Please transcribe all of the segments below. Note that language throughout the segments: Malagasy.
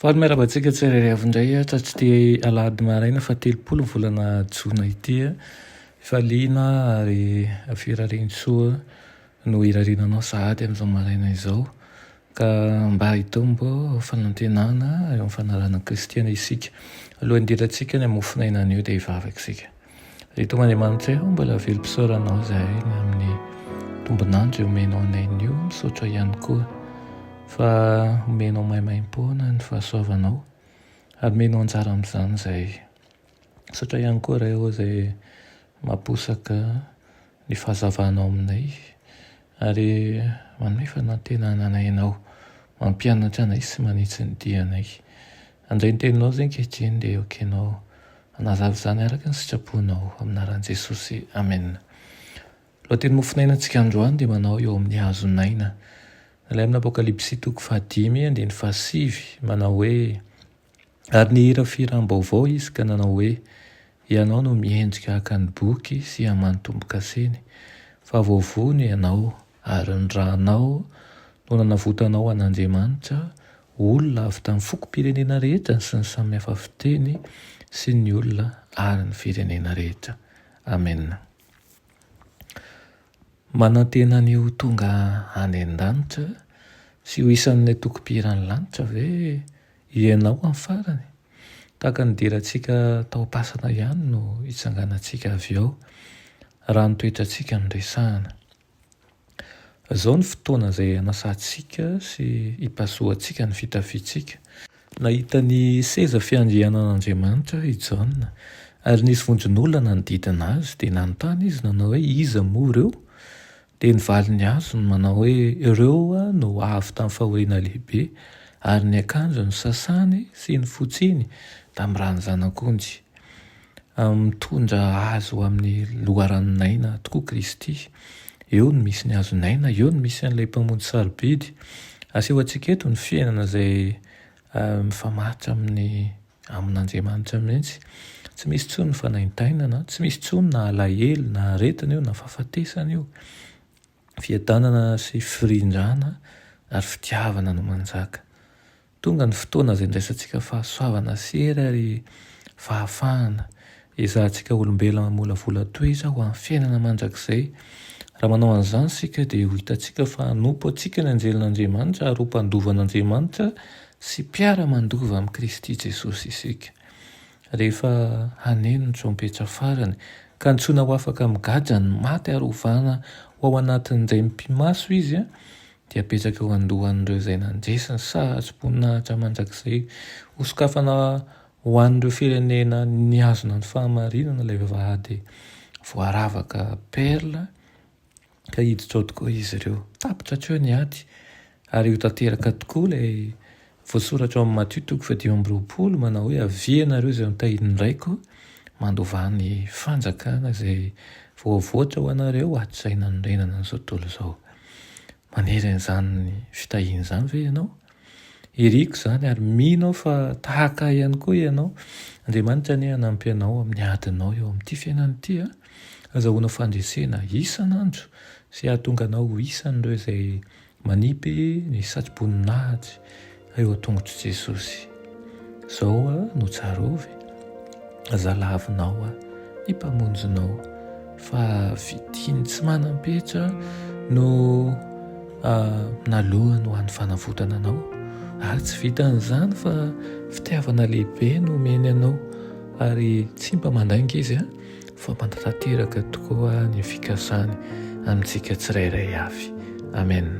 Faly miarahaba antsika tsirairay avy indray hatratr'ity alahady maraina fahatelopolo ny volana jona ity. Efa liana ary firarian-tsoa no irariana anao sahady amin'izao maraina izao. Ka mba hitombo fanantenana eo amin'ny fanarahan'i Kristy anie isika. Alohan'ny hidirantsika any amin'ny mofonaina anio dia hivavaka isika. Ry Tomandriamanitra eo, mbola velom-pisaoranao izahay ny amin'ny tombon'andro omenao anay nio. Misaotra ihany koa fa omenao maimaim-poana ny fahasoavanao ary omenao anjara amin'izany izahay. Misaotra ihany koa Ray ô izay mamposaka ny fahazavanao aminay ary manome fanantenana anay Ianao, mampianatra anay sy manitsy ny dianay. Handray ny Teninao izay ankehitriny dia ekenao hanazava izany araka ny sitraponao. Amin'ny anaran'i Jesosy, amena. Lohateny mofonainantsika androany dia manao eo amin'ny hazon'aina. Nalain'ny Apokalypsy toko fahadimy andininy fahasivy manao hoe. Ary nihira fihiram-baovao izy ka nanao hoe, Ianao no miendrika haka ny boky sy haman'ny tombo-kaseny, fa voavono ianao, ary ny ranao no nanavotanao an'Andriamanitra, olona avy tamin'ny fokom-pirenena rehetra sy ny samy hafa fiteny sy ny olona ary ny firenena rehetra. Amena. Manantena ny ho tonga any an-danitra sy ho isan'ny atokom-pihiran'ny lanitra ve Ianao amin'ny farany, tahaka ny dera antsika tao am-pasana ihany no hitsanganantsika avy ao, raha ny toetrantsika no resahana. Izao ny fotoana izay hanasantsika sy hipasohantsika ny fitafiantsika. Nahita ny seza fiandrianan'Andriamanitra i Jaona, ary nisy vondron'olona nanodidina azy, dia nanontany izy nanao hoe, Iza moa ireo? Dia ny valiny azony manao hoe, Ireo no avy tamin'ny fahoriana lehibe, ary ny akanjony sasany sy ny fotsiny tamin'ny ran'ny Zanak'ondy. Mitondra azy ho amin'ny loharanon'aina tokoa Kristy. Eo no misy ny hazon'aina, eo no misy an'ilay Mpamonjy sarobidy. Asehoantsika eto ny fiainana izay mifamaritra amin'ny. Amin'Andriamanitra mihitsy. Tsy misy intsony ny fanaintainana, tsy misy intsony na alahelo na aretina io na fahafatesana io. Fiadanana sy firindrana ary fitiavana no manjaka. Tonga ny fotoana izay andraisantsika fahasoavana sy hery ary fahafahana. Ezahantsika olombelona mamolavola toy izao ho an'ny fiainana mandrakizay. Raha manao an'izany isika, dia ho hitantsika fa hanompo antsika ny anjelin'Andriamanitra ary ho mpandova an'Andriamanitra sy mpiara-mandova amin'i Kristy Jesosy isika. Rehefa haneno ny trompetra farany, ka antsoina ho afaka migadra ny maty ary hovana ho ao anatin'ny raim-pimaso izy, dia hapetraka eo an-dohan'ireo izay nandresy ny sahatsy-boninahitra mandrakizay hosokafana Ho an'ireo firenena nihazona ny fahamarinana ilay vavahady voaravaka perla ka hiditra ao tokoa izy ireo. Tapitra hatreo ny ady ary ho tanteraka tokoa ilay voasoratra ao amin'ny Matio toko fahadimy amby roapolo manao hoe, Avia ianareo izay notahian'ny Raiko, mandovà ny fanjakana izay voavoatra ho anareo hatrizay nanorenana ny izao tontolo izao. Manery an'izany fitahiana izany ve ianao? Iriko izany ary mino aho fa tahaka ahy ihany koa ianao. Andriamanitra anie hanampy anao amin'ny adinao eo amin'ity fiainana ity a! Hazahoanao fandresena isan'andro sy hahatonga anao ho isan'ireo izay manipy ny satroboninahitry eo an-tongotr'i Jesosy. Zao a no tsarovy e, zalavinao a, ny mpamonjinao, fa vitin tsy manam-petra no naloany ho an'ny fanavotana anao, ary tsy vitan'izany fa fitiavana lehibe no omeny anao, ary tsy mba mandainga izy a, fa manatanteraka tokoa ny fikasany amintsika tsirairay avy. Amen.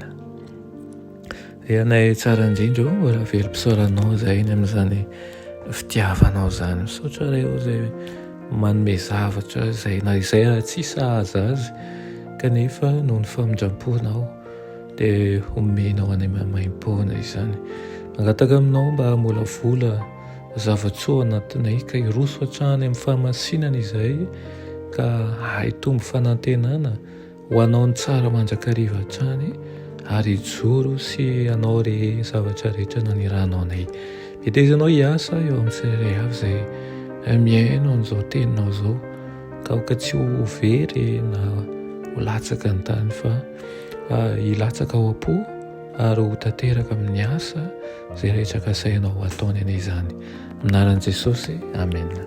Eanay tsara indrindra o raha velom-pisaoranao izay ny amin'izany fitiavanao izany misaotra reo izay manome zavatra izay na izay raha tsy sahaza azy kanefa noho ny famindram-ponao dia homenao any maimaim-poana izany mangataka aminao mba hamolavola zava-tsoa anatinay ka hiroso hatrany amin'ny fahamasinana izay ka hahitombo fanantenana Ho anao ny tsara mandrakariva hatrany ary hijoro sy hanao re zavatra rehetra nanirahanao anay. Hetezinao hiasa eo amin'ny tsirairay avy izay eh, mihaino an'izao teninao izao ka aoka tsy ho very na ho latsaka ny tany fa ah, hilatsaka ao am-po ary ho tanteraka amin'ny asa izay rehetra kasainao ataony anie izany. Amin'ny anaran'i Jesosy, Amena.